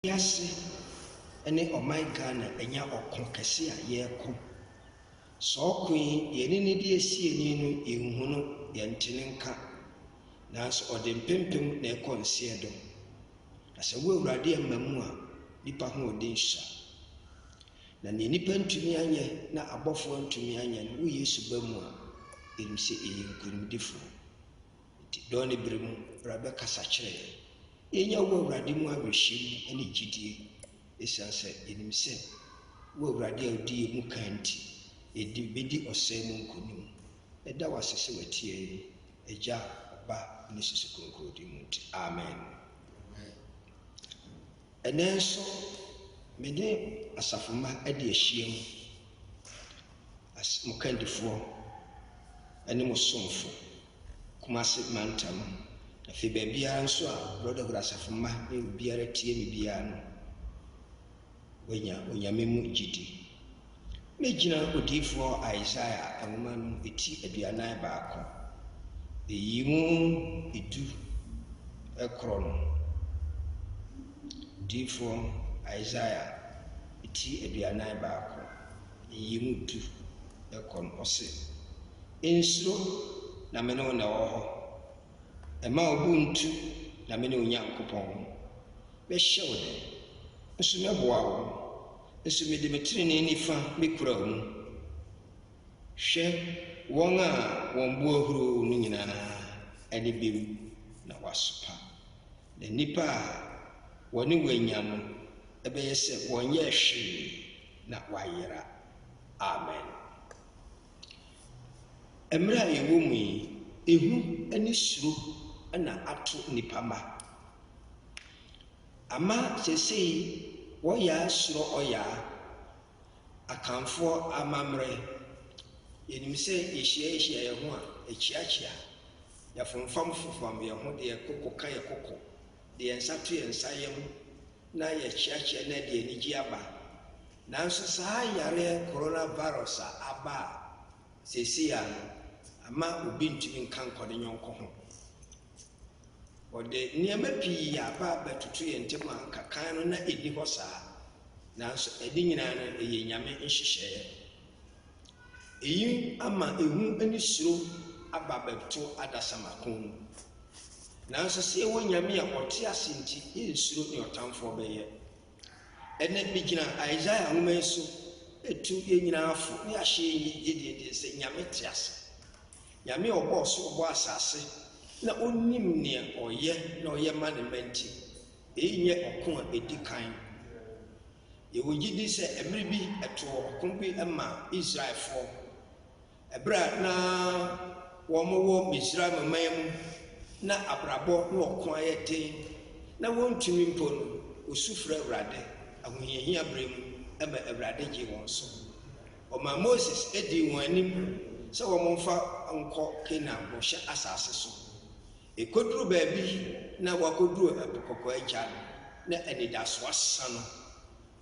Wiase ne ɔman Ghana anya ɔko kɛse a yɛreko. Saa ɔko yi yɛne no di asie ni no yɛnhu no, yɛnte no nka. Nanso ɔde mpempem na ɛkɔ nseɛ do. Na sɛ wo Awurade amma mu a, nipa hoɔden sua. Na nea nipa ntumi anyɛ na abɔfoɔ ntumi anyɛ no, wo Yesu ba mu a, yɛnim sɛ yɛyɛ nkonimdifoɔ. Enti dɔn ne bere mu bra bɛkasa kyerɛ yɛn. Yɛnya wo Awurade mu awerɛhyem ne gyidie ɛsiane sɛ yɛnim sɛ wo Awurade a wodi yɛn mu kan nti, yɛde bɛdi ɔsɛe mu nkonim. Yɛda wo ase sɛ w'atie yɛn mu, Agya, Ɔba ne Susu Kronkron din mu nti, amen. Ɛnnɛ nso me ne asafo mma de ahyiam, as mo kandifoɔ ne mo somfo. Kumase mantam. Afei baabiara nso a Brɔdɔhood Asafo mma ne obiara tie me biara no, wanya Onyame mu gyidi. Mɛgyina odiyifoɔ Isaiah nwoma no eti aduanan baako, eyi mu edu ɛkorɔ no. Odiyifoɔ Isaiah eti aduanan baako. Yiyi mu du kɔ no, ɔse, Nsuro, na me ne wo na ɛwɔ hɔ. Mma wo bo nntu, na me ne wo Nyankopɔn. Mɛhyɛ wo den, nso mɛboa wo, nso mede me trenee nifa mekura wo mu. Hwɛ, wɔn a wɔn bo ahuro no nyinaa ani bewu na wɔasopa, na nnipa a wɔne wo anya no bɛyɛ sɛ wɔnyɛɛ hwee na wɔayera. Amen. Mmerɛ a yɛwɔ mu yi, ehu ne suro na ato nnipa ma. Ama sɛsɛyi wɔyaa suro ɔyaa, Akanfoɔ amammerɛ. Yɛnim sɛ yɛhyiahyia yɛn ho a, yɛkyeakyea, yɛfomfamfomfam yɛn ho de yɛn koko ka yɛn koko, de yɛn nsa to yɛn nsa yam na yɛkyeakyea na ɛde anigye aba. Nanso saa yareɛ coronavirus a aba a seesei a no ama obi ntumi nka nkɔ ne yɔnko ho. Wɔde nneɛma pii a aba abɛtoto yɛn ntam a anka kan no na ɛnni hɔ saa. Nanso ɛne nyinaa no ɛyɛ Nyame nhyehyɛeɛ. Eyi ama ehu ne suro aba abɛto adasamma kɔn mu. Nanso sɛ yɛwɔ Nyame a ɔte ase nti, yɛrensuro nea ɔtamfoɔ bɛyɛ. Ɛnnɛ, megyina Isaiah nwoma yi so retu yɛn nyinaa fo ne ahyɛ yɛn gyidie den sɛ Nyame te ase. Nyame a ɔbɔɔ soro ɔbɔɔ asase na ɔnim nea ɔyɛ na ɔyɛ ma ne mma nti, eyi nyɛ ɔko a ɛdi kan. Yɛwɔ gyidi sɛ mmere bi ɛtoo ɔko bi maa Israelfoɔ ɛberɛ a na wɔwɔ Misraim man mu na abrabɔ ne ɔko ayɛ den na wɔntumi mpo no, wɔsu frɛ Awurade ahohiahia berɛ mu ɛma Awurade gyee wɔn so. Ɔmaa Moses dii wɔn anim sɛ wɔmfa nkɔ Kanaan bɔhyɛ asase so. Ɛkɔduru baabi yi na wɔakɔduru Ɛpo Kɔkɔɔ agya no, na anidasoɔ asa no,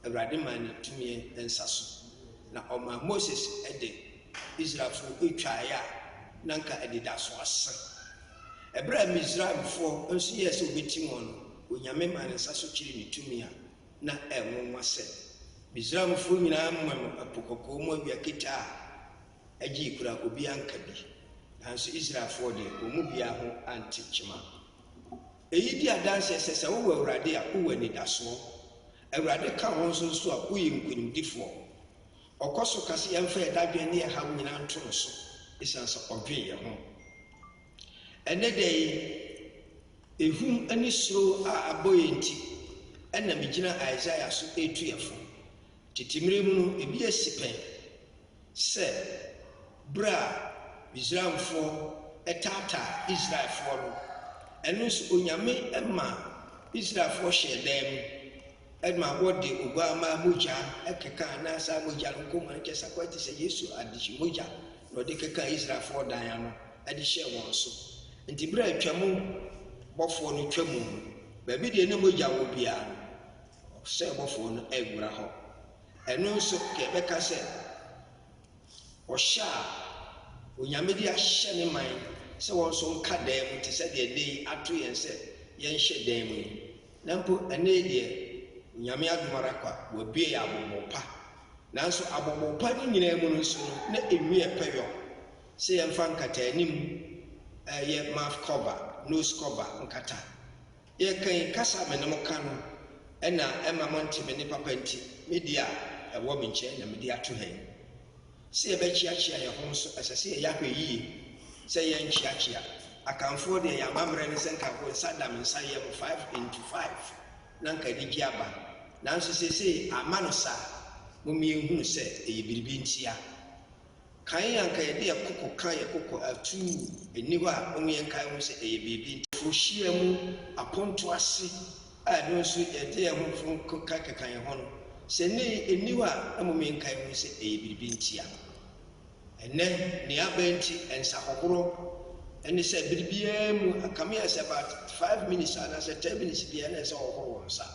Awurade maa no tumi nsa so, na ɔmaa Moses de Israelfoɔ twaeɛ a na anka anidasoɔ asa. Ɛberɛ a Misraimfoɔ nso yɛɛ sɛ wɔbɛtim wɔn no, Onyame maa ne nsa so kyeree ne tumi a na ɛnwonwa sɛ, Misraimfoɔ nyinaa monom Ɛpo Kɔkɔɔ mu awia ketee a, gyee kura obi anka bi, nanso Israelfoɔ deɛ, wɔn mu biara ho ante kyema. Eyi di adanseɛ sɛ sɛ wowɔ Awurade a, wowɔ anidasoɔ. Awurade ka wɔn nso nso a, woyɛ nkonimdifoɔ. Ɔkɔ so ka sɛ yɛmfa yɛn dadwene ne yɛn haw nyinaa nto no so, esiane sɛ ɔdwen yɛn ho. Ɛnnɛ da yi, ehum ne suro a abɔ yɛn nti na megyina Isaiah so retu yɛn fo. Tete mmere mu no, ebi asi pɛn. sɛ bere a Misraimfoɔ taataa Israelfoɔ no, ɛno nso Onyame ma Israelfoɔ hyɛɛ dan mu ma wɔde Oguammaa mogya kekaa na saa mogya no nkɔmmɔ no kyerɛ sɛ akɔyɛ te sɛ Yesu adehye mogya na ɔde kekaa Israelfoɔ dan ano de hyɛɛ wɔn so. Nti bere a Twam bɔfoɔ no twa mu no, baabi deɛ na mogya wɔ biara no, ɔsɛe bɔfoɔ no anwura hɔ. Ɛno nso ka yɛbɛka sɛ ɔhyɛ a Onyame de ahyɛ ne man sɛ wɔn nso nka dan mu te sɛ deɛ da yi ato yɛn sɛ yɛnhyɛ dan mu yi. Na mpo ɛnnɛ yi deɛ Onyame adom ara kwa, wɔabue yɛn abobow pa. Nanso abobow pa no nyinaa mu no nso no na ɛmu yɛ pɛ yɔn. Sɛ yɛmfa nkataanim, ɛyɛ mouth cover, nose cover, nkata. Yɛka yi, kasa a me ne mo ka no na ɛmma monte me nne papa nti, me deɛ a ɛwɔ me nkyɛn na mede ato ha yi. Sɛ yɛbɛkyeakyea yɛn ho nso, ɛsɛ sɛ yɛyɛ ahwɛ yiye sɛ yɛrenkyeakyea. Akanfoɔ deɛ, yɛn amammerɛ ne sɛ nka wo nsa da me nsa yam five into five na nka anigyeɛ aba. Nanso seesei amma no saa. Mommie nhunu sɛ ɛyɛ biribi ntia. Kan yi anka yɛde yɛn koko ka yɛn koko atuu nni hɔ a wɔn yɛn nkae ho sɛ ɛyɛ biribi nti. Wohyia mu apontow ase a ɛno nso yɛde yɛn ho foforo nko ka keka yɛn ho no, sɛ nnɛ yi enni hɔ a na mmom yɛn nkae ho sɛ ɛyɛ biribi nti a. Ɛnnɛ nea aba nti nsa hohoro ne sɛ bere biara mu anka me a sɛ about five minutes anaa sɛ ten minutes biara na ɛsɛ wɔhohoro wɔn nsa.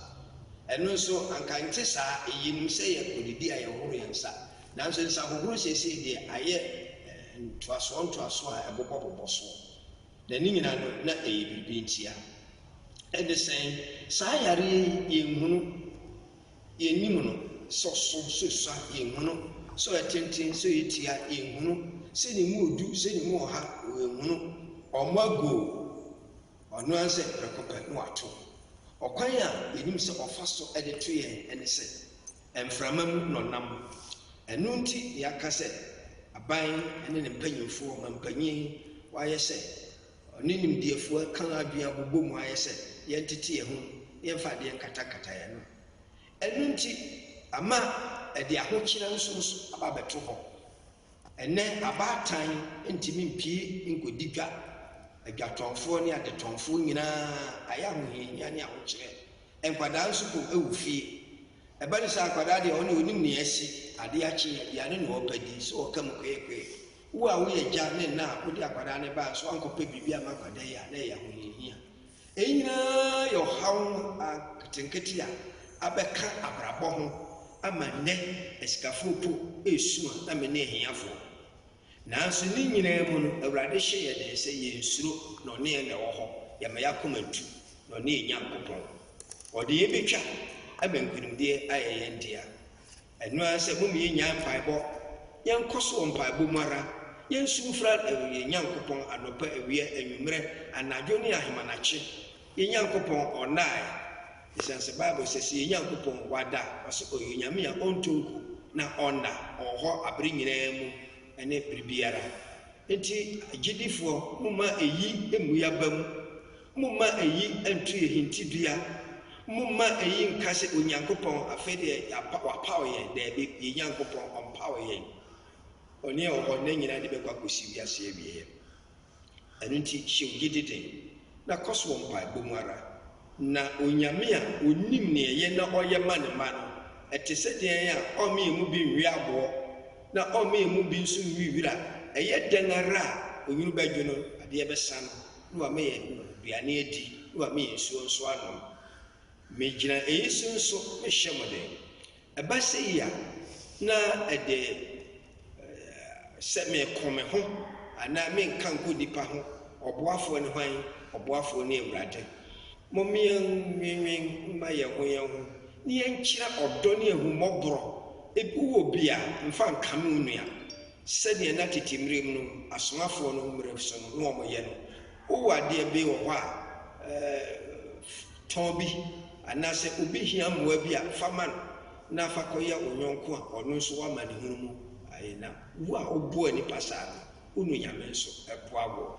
Ɛno nso anka ɛnte saa, eyinom sɛ yɛkɔ didi a yɛhohoro yɛn nsa. Nanso nsahohuru seesei deɛ ayɛ ntoasoɔ ntoasoɔ a ɛbobɔ bobɔ soɔ, na ne nyinaa no na ɛyɛ biribi ntia. Ɛde sɛn? Saa yareɛ yi yɛnhunu, yɛnnim no, sɛ ɔso, sɛ osua, yɛnhunu, sɛ ɔyɛ tenten, sɛ ɔyɛ tia, yɛnhunu, sɛ ne mu ɔdu, sɛ ne mu ɔha, yɛnhunu. Ɔmmɔ agoo, ɔno ara sɛ prɛko pɛ na wato. Ɔkwan a yɛnim sɛ ɔfa so de to yɛn ne sɛ, Mframa mu na ɔnam. Ɛno nti na yɛaka sɛ aban ne ne mpanyimfoɔ, ɔmampanyin, wayɛ sɛ ɔne nimdeɛfoɔ aka adwene abobɔ mu ayɛ sɛ yɛntete yɛn ho na yɛmfa adeɛ nkatankata yɛn ano. Ɛno nti ama ɛde ahokyerɛ nsonso aba abɛto hɔ Ɛnnɛ, abaatan ntumi mpue nkɔdi dwa. Adwatɔnfoɔ ne adetɔnfoɔ nyinaa ayɛ ahohiahia ne ahokyerɛ. Nkwadaa nso po wɔ fie. Ɛba no saa a, akwadaa deɛ ɔno ɔnim nea asi, adeɛ akye, aduane na ɔrepɛ di, so ɔka mu kweekwee. Wo a woyɛ agya ne ɛna a wode akwadaa no baeɛ nso woankɔpɛ biribi amma akwadaa yi a, na ɛyɛ ahohiahia. Eyi nyinaa yɛ ɔhaw nketenkete a abɛka abrabɔ ho ama nnɛ asikafo mpo resu a na mene ahiafo. Nanso ne nyinaa mu no, Awurade hyɛ yɛn den sɛ yensuro, na ɔne yɛn na ɛwɔ hɔ, yɛmma yɛn akoma ntu, na ɔne yɛn Nyankopɔn. Ɔde yɛn betwa ama nkonimdie ayɛ yɛn dea. Ɛno ara sɛ mom yɛnnyae mpaebɔ, yɛnkɔ so wɔ mpaebɔ mu ara, yɛnsu mfrɛ yɛn Nyankopɔn anɔpa, awia, anwummerɛ, anadwo ne ahemanakye, yɛn Nyankopɔn Ɔnnae, esiane sɛ Bible sɛ, sɛ yɛn Nyankopɔn Wada, ɔse Ɔyɛ Onyame a Ɔntɔ nku na Ɔnna, Ɔwɔ hɔ abere nyinaa mu ne bere biara. Enti agyidifoɔ, momma eyi mmu yɛn aba mu, Momma eyi nto yɛn hintidua. Momma eyi nka sɛ, 'Onyankopɔn, afei deɛ yɛapa, wapaw yɛn. Dabi, yɛn Nyankopɔn, ɔmpaw yɛn. Ɔne a ɔwɔ hɔ nna nyinaa de bɛkɔ akɔsi wiase awieeɛ. Ɛno nti, hyɛ wo gyidi den, na kɔ so wɔ mpaebɔ mu ara. Na Onyame a ɔnim nea ɛyɛ na ɔyɛ ma ne mma no, ɛte sɛ deɛn a ɔremma yɛn mu bi nnwe aboɔ, na ɔremma yɛn mu bi nso nnwe wira? Ɛyɛ dɛn ara a onwunu bɛdwo no, adeɛ bɛsa no. na wama yɛn aduane adi, na wama yɛn nsuo nso anom. Megyina eyi so nso mehyɛ mo den. Ɛba sɛ yi a, na ɛde sɛ meko me ho anaa menka nkɔ nnipa ho, ɔboafoɔ ne hwan? Ɔboafoɔ ne Awurade. Mom yɛnnwennwen mma yɛn ho yɛn ho, na yɛnkyerɛ ɔdɔ ne ahummɔborɔ. Ebi wɔ obi a, mfa nkame wo nua. Sɛdeɛ na tete mmerɛ mu no asomafoɔ no mmerɛ so no na wɔyɛ no, wowɔ adeɛ be wɔ hɔ a, tɔn bi, anaa sɛ obi hia mmoa bi a, fa ma no, na fa kɔyɛ wo yɔnko a ɔno nso w'amanehunu mu ayɛ nam. Wo a woboa nnipa saa no, wo nu Nyame nso boa woɔ.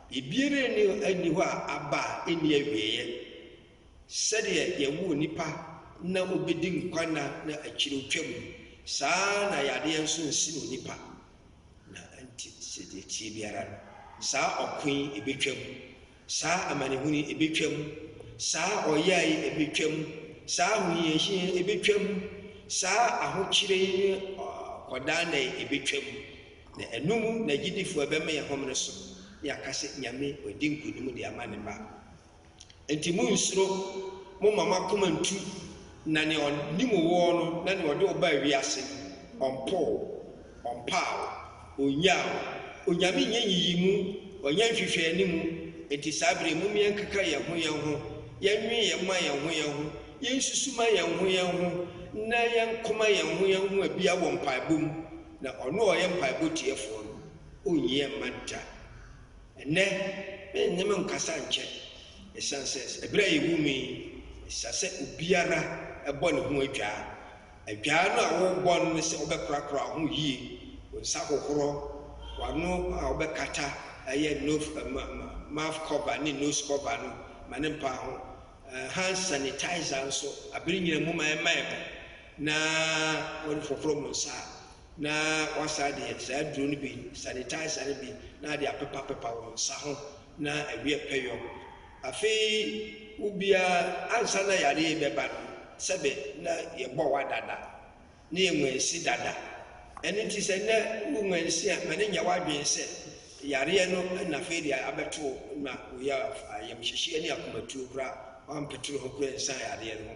Biribiara nni hɔ nni hɔ a aba a enni awieeɛ. Sɛdeɛ Yɛwoo nipa na ɔbɛdi nkwa nna na akyire ɔtwa mu no, saa ara na yadeɛ nso nsen onipa. Na nti sɛ deɛ ɛteɛ biara no, saa ɔko yi ɛbɛtwa mu, saa amanehunu yi ɛbɛtwa mu, saa ɔyea yi ɛbɛtwa mu, saa ahohiahia yi ɛbɛtwa mu, saa ahokyerɛ yi ne ɔkɔdaanna yi ɛbɛtwa mu. Na ɛno mu na gyidifo a ɛbɛma yɛn homene so na yɛaka sɛ, Nyame, wadi nkonim de ama ne mma. Enti munnsuro, momma mo akoma nntu, na nea ɔnim wo wɔ no na nea ɔde wo baa wiase no, ɔmpoo wo, ɔmpaa wo, onnyaa wo. Onyame nyɛ nyiyimu, ɔnyɛ nhwehwɛanimu, enti saa bere yi momma yɛnkeka yɛn ho yɛn ho, yɛnnwen yɛn mma yɛn ho yɛn ho, yensusu ma yɛn ho yɛn ho, na yɛnkoma yɛn ho yɛn ho abia wɔ mpaebɔ mu. Na ɔno a ɔyɛ mpaebɔ tiefoɔ no, ɔnnyie mma da. Ɛnnɛ, mennye me nkasa nkyɛ, ɛsiane sɛ ɛberɛ a yɛwɔ mu yi, ɛsɛ sɛ obiara bɔ ne ho adwaa. Adwaa no a worebɔ no ne sɛ wobɛkorakora wo ho yie, wo nsa hohorɔ, w'ano a wobɛkata ɛyɛ nof ɛm ɛm mouth cover ne nose cover no ma no mpa ho, ɛɛ hand sanitizer nso, aberɛ nyina mu ma ɛmma ɛho. na wɔde foforo wɔn nsa na wɔasa de saa aduro no bi sanitizer no bi na ade apepapepa wɔn nsa ho na awie pɛ yɔ afei wobia ansa na yare yi bɛba no sɛbe na yɛbɔ wa dada ne yɛ nwansi dada ɛno nti sɛ nɛ wo nwansi a ma ne nyɛ w'adwene sɛ yareɛ no na afei deɛ abɛto na woyɛ ayamhyehyeɛ ne akomatuo koraa wampetoro ho koraa nsa yareɛ no ho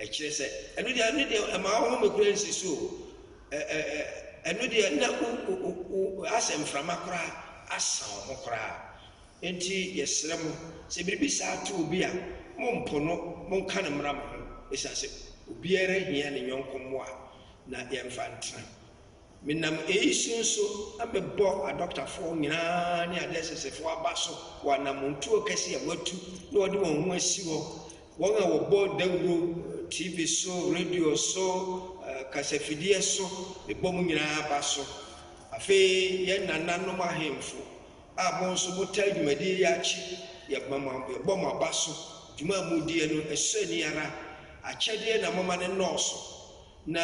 Ɛkyerɛ sɛ, ɛno deɛ, ɛno deɛ, ɛma ɔhome koraa nsi so o. Ɛ, ɛ, ɛ, ɛno deɛ, na wo, wo, wo, wo, asɛ mframa koraa asa wo ho koraa. Enti yɛsrɛ mo, sɛ biribi saa to obi a, mompo no, monka no mmra mo ho, ɛsiane sɛ obiara hia ne yɔnko mmoa, na yɛmfa ntena. Menam eyi so nso mebɔ adɔktafoɔ nyinaa ne adeɛsesefoɔ aba so wɔ anamontuo kɛse a wɔatu na wɔde wɔn ho asi hɔ, wɔn a wɔbɔ dawuro, TV so, radio so, eh, kasafideɛ so, mebɔ mo nyinaa aba so. Afei yɛn nananom ahemfo a mo nso motaa dwumadie yi akyi, yɛma mo yɛbɔ mo aba so. Dwuma a modiɛ no ɛsɔ ani ara, akyɛdeɛ na moma no nnɔɔso. na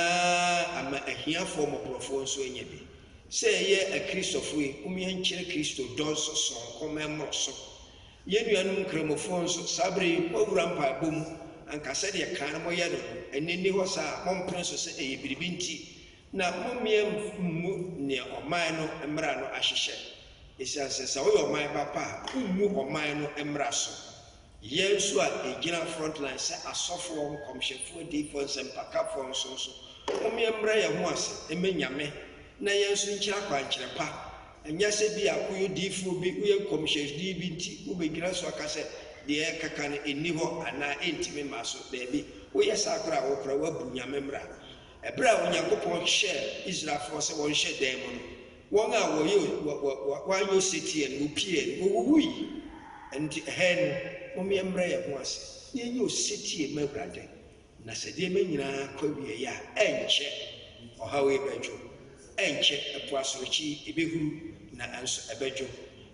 ama ahiafoɔ mmɔborɔfoɔ nso anya bi. Sɛ yɛyɛ Akristɔfoɔ yi, mom yɛnkyerɛ Kristo dɔ nso sononko ma ɛmmoro so. Yɛn nuanom Nkramofoɔ nso, saa berɛ yi, moawura mpaebɔ mu, anka sɛdeɛ kan no moyɛ no no, ɛnnɛ nni hɔ saa, mompene so sɛ ɛyɛ biribi nti, na mom yɛmmu nea ɔman no mmara no ahyehyɛ, ɛsiane sɛ sɛ woyɛ ɔman ba pa a, wommu ɔman no mmara so. Yɛn nso a yɛgyina front line sɛ asɔfoɔ, nkɔmhyɛfoɔ, adiyifoɔ, nsɛmpakafoɔ nso nso, mom yɛmbrɛ yɛn ho ase mma Nyame na yɛn nso nkyerɛ akwankyerɛ pa. Ɛnyɛ sɛ bi a woyɛ odiyifoɔ bi, woyɛ nkɔmhyɛni bi nti wobɛgyina so aka sɛ deɛ yɛrekaka no nni hɔ anaa ɛntumi mma so. Daabi, woyɛ saa koraa a, wo koraa woabu Nyame mmra. Ɛberɛ a Onyankopɔn hyɛɛ Israelfoɔ sɛ wɔnhyɛ dan mu no, Wɔn a wɔyɛ wɔayɛ osetie no, wopiee no, wowuwui. Ɛno nti, ɛha yi no, momma yɛmmrɛ yɛn ho ase na yɛnyɛ osetie mma Awurade, na sɛ nneɛma nyinaa kɔ awieeɛ a, ɛnkyɛ ɔhaw yi bɛdwo, ɛnkyɛ ɛpo asorɔkye yi ɛbɛhuru, nanso ɛbɛdwo,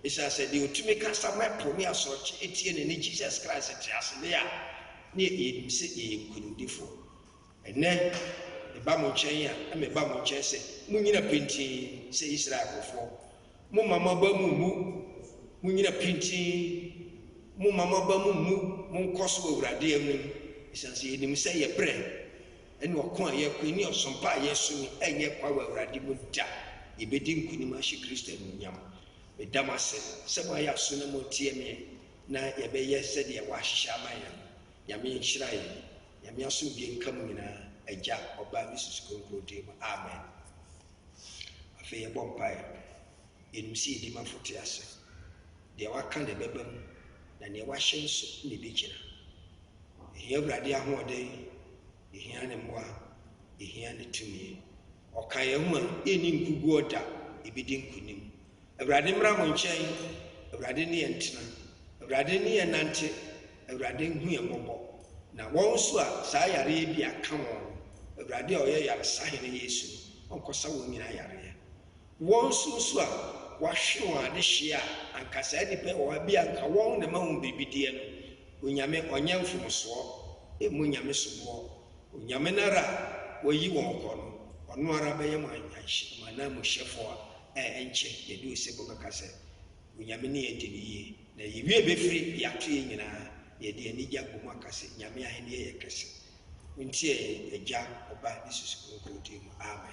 ɛsiane sɛ deɛ ɔtumi kasa ma ɛpo ne asorɔkye ɛtie no ne Jesus Christ te ase deɛ a, na yɛnim sɛ yɛyɛ nkonimdifoɔ. Ɛnnɛ, meba mo nkyɛn a, na meba mo nkyɛn sɛ munnyina pintinn sɛ Israel nkurɔfoɔ. Momma mo aba mu mmu. Munnyina pintinn. Momma mo aba mu mmu. Monkɔ so wɔ Awurade anim, ɛsiane sɛ yɛnim sɛ yɛn berɛ ne ɔko a yɛreko yi ne ɔsom pa a yɛsom yi renyɛ kwa wɔ Awurade mu da. Yɛbɛdi nkonim ahyɛ Kristo anuonyam. Meda mo ase sɛ moayɛ aso na moretie me, na yɛbɛyɛ sɛdeɛ wɔahyehyɛ ama yɛn no. Nyame nhyira yɛn. Nyame asomdwie nka mo nyinaa, Agya, Ɔba, ne Susu Kronkron din mu, amen. Afei yɛbɔ mpaeɛ. Yɛnim sɛ Edimafo te ase. Deɛ waka na ɛbɛba mu, na deɛ wahyɛ nso na ɛbɛgyina. Yɛhia Awurade ahoɔden, yɛhia Ne mmoa, yɛhia Ne tumi. Ɔka yɛn ho a, yɛnni nkuguɔ da, yɛbɛdi nkonim. Awurade mmra mo nkyɛn, Awurade ne yɛn ntena, Awurade ne yɛn nnante, Awurade nhu yɛn mmɔbɔ. Na wɔn nso a saa yareɛ yi bi aka wɔn no, Awurade a ɔyɛ Yaresahene Yesu no, ɔnkɔsa wɔn nyinaa yareɛ. Wɔn nso nso a wɔahwe wɔn adehyeɛ a anka saa nnipa yi wɔ hɔ a bi a anka wɔn na ɛma wɔn biribi deɛ no, Onyame ɔnyɛ mfomsoɔ mmu Onyame soboɔ Onyame no ara a wayi wɔn kɔ no, ɔno ara bɛyɛ mo anyanhyɛ, mo ananmuhyɛfoɔ a ɛnkyɛ yɛduu se mobɛka sɛ, Onyame ne yɛn di no yie, na yɛn wie bɛfiri deɛ ato yɛn nyinaa, na yɛde anigye abɔ mu aka se, Nyame ahennie yɛ kɛse. Montie yɛn, Agya, Ɔba, ne Susu Kronkron din mu. Amen.